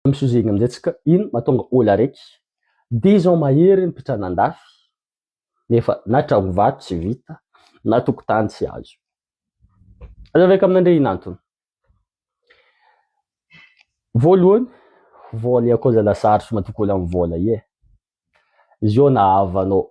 Misozegna amin'izay tsy ka ino mahatonga ol araiky. Dia izao mahery ny mpitrana andafy nefa na tragno vato tsy vita na tokotany tsy azo. Aza vaika amin'andre ino antony. Voalohany, vola ya koza la sarotro matoky ol am vola ye. Izy io na havanao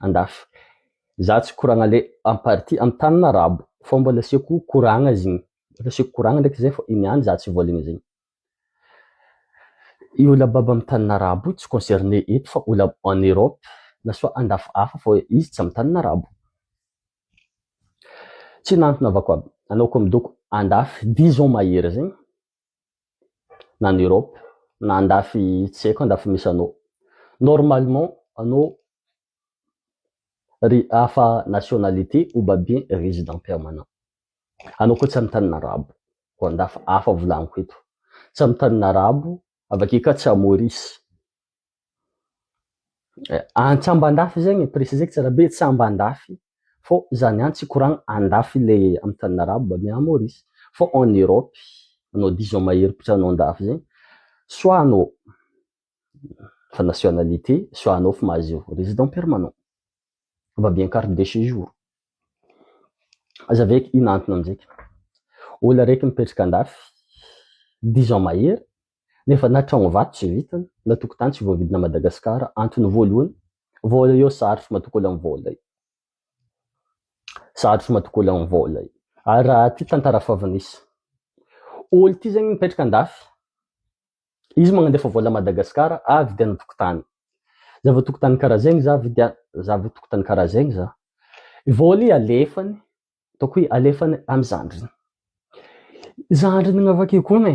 andafy. Za tsy koragna le en partie am tanin arabo fa mbola asiako koragna zigny mbola asiako koragna ndraiky zay fa igny ihany za tsy voaligny zegny. I ola baba am tanin arabo io tsy concerne eto fa ola en Europe na soit andafy hafa fa izy tsy am tanin arabo. Tsy nantona avako aby anao ko midoko andafy dix ans mahery zegny na any Europe na andafy tsy haiko andafy misy anao normalement anao ry hafa nationalité ou babien résident permanent anao koa tsy amin'ny tanina arabo ho andafy hafa volaniko eto tsy amin'ny tanina arabo avake ka tsy à Maurice Antsy Ambandafy zegny e, preciseko tsara be, tsy Ambandafy fô zany antsy hikoragna andafy le amin'ny tanin'ny Arabo mba miaha Maurice fô en Europe anao disons mahery mpitranao andafy zegny soit anao efa nationalité soit anao efa mahazo résident permanent mba miaha carte de séjour. Aza ve ino antony aminjay ka, ôlo araiky mipetraka andafy dix ans mahery nefa na tragno vato tsy vitany, na tokotany tsy voavidina Madagascar, antony voalohany, vola eo sarotra matokoly am vola io, sarotra matokoly am vola io, ary raha ty tantara fav nisy olo ty zegny mipetraka andafy, izy magnandefa vola Madagascar ah vidiana tokotany, zava tokotany kara zegny za vidia, zava tokotany kara zegny za, i vola i alefany, ataoko hoe alefany am zandriny, zandriny agnavake koa ne,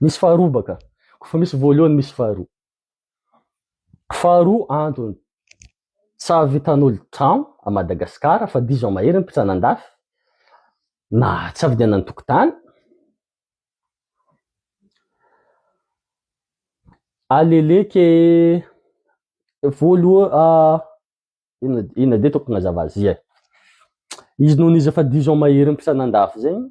Misy faharoa baka. Kofa misy voalohany misy faharoa. Faharoa antony tsy ahavitan'olo trano a Madagascar fa diso a mahery ny mpitsana andafy na tsy avidiana ny tokotany. Aleleke voaloha a ina ina de tokony azava zia. Izy noho izy efa diso a mahery ny mpitsana andafy zegny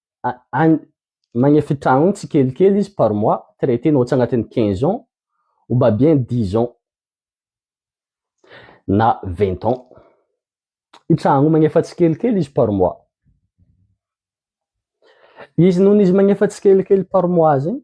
magnefitra an tsikelikely izy par mois traite na tsy agnatin'ny quinze ans ou ba bien dix ans na vingt ans i tragno io magnefa tsikelikely izy par mois izy noho izy magnefa tsikelikely par mois zegny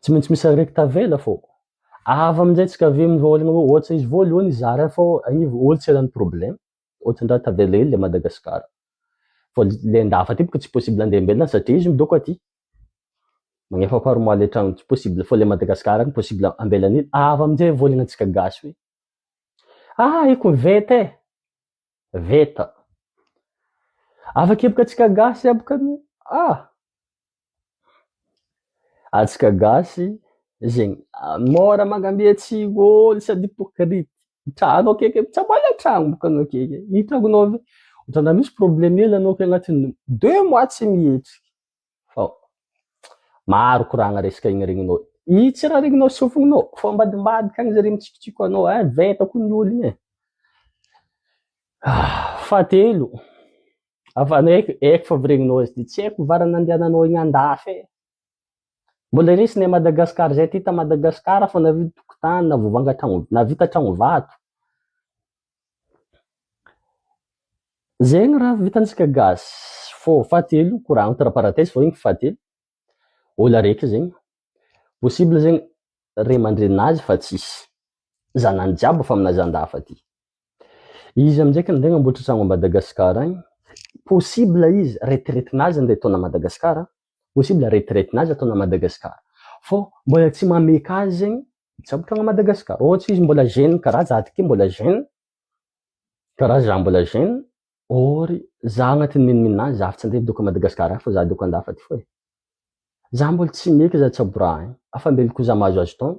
Tsy maintsy misy araiky tavela fô. Avy amin'izay tsy kavy amin'ny voalohany hoe ohatra izy voalohany izy zara fô anivo olo tsy eran'ny problème. Ohatra ndra tavela hely le Madagascar. Fô le ndafa aty boko tsy possible andeha ambelona satria izy midoko aty. Magnefa parement le tragno tsy possible fô le Madagascar any possible ambelany hely. Avy amin'izay voalohany antsika gasy hoe ah i koveta e! Veta. Afa-kepoka antsika gasy amiko anie. Ah! Antsika gasy zegny mora magnamia tsy ôlo sady hypocrite. Trano akeke tsy ambala tragno boka anao akeke. Ino tragnonao ve? Ohatran'ny raha misy problème hely anao akeo agnatin'ny deux mois tsy mihetsiky. fa maro koragna resaka igny regninao i tsy raha regninao sy sofinao fa ambadimbadika agny zare mitsikitsiko anao eh veta ko ny ologny eh fahatelo afa anao eky eky fa avy regninao izy ty tsy haiko ny vara nandehananao igny andafy eh mbola resinay Madagascar zay ty ta Madagascar fa navita tokotany na vovanga tragno na vita tragno vato Zegny raha vitantsika gasy fô fahatelo kora entre parenthèse fô igny fahatelo ôlo araiky zegny possible zegny ray aman-drenin'azy fa tsisy zanany jiaby efa amina zandafy aty izy amizay ka nde namboatry tragno à Madagascar agny possible izy retraite-nazy nde ataony à Madagascar possible retraite nazy ataona Madagascar fô mbola tsy mameka azy zegny hitsabotra ana Madagascar ôhatra izy mbola jeune kara za ty ke mbola jeune kara za mbola jeune or za agnatin'ny minominona azy za fa tsy andeha hidoka Madagascar any fa za hidoka andafa ty fô e za mbola tsy meka za hitsaboraha any afa mbelokoa za mahazoazo taona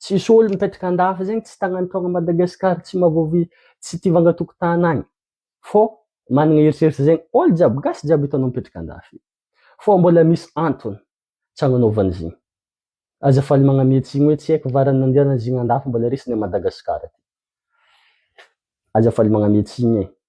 Tsisy olo mipetraka andafy zegny tsy tagnany taogna Madagascar tsy mavovi tsy tia vanga tokotany agny fô managna eritreritra zegny olo jiaby gasy jiaby hitanao mipetraka andafy fô mbola misy antony tsy agnanaovany zegny aza faly magname tsigny hoe tsy aiko varany nandianany zegny andafy mbola resiny a Madagascar ty aza faly magname tsigny e.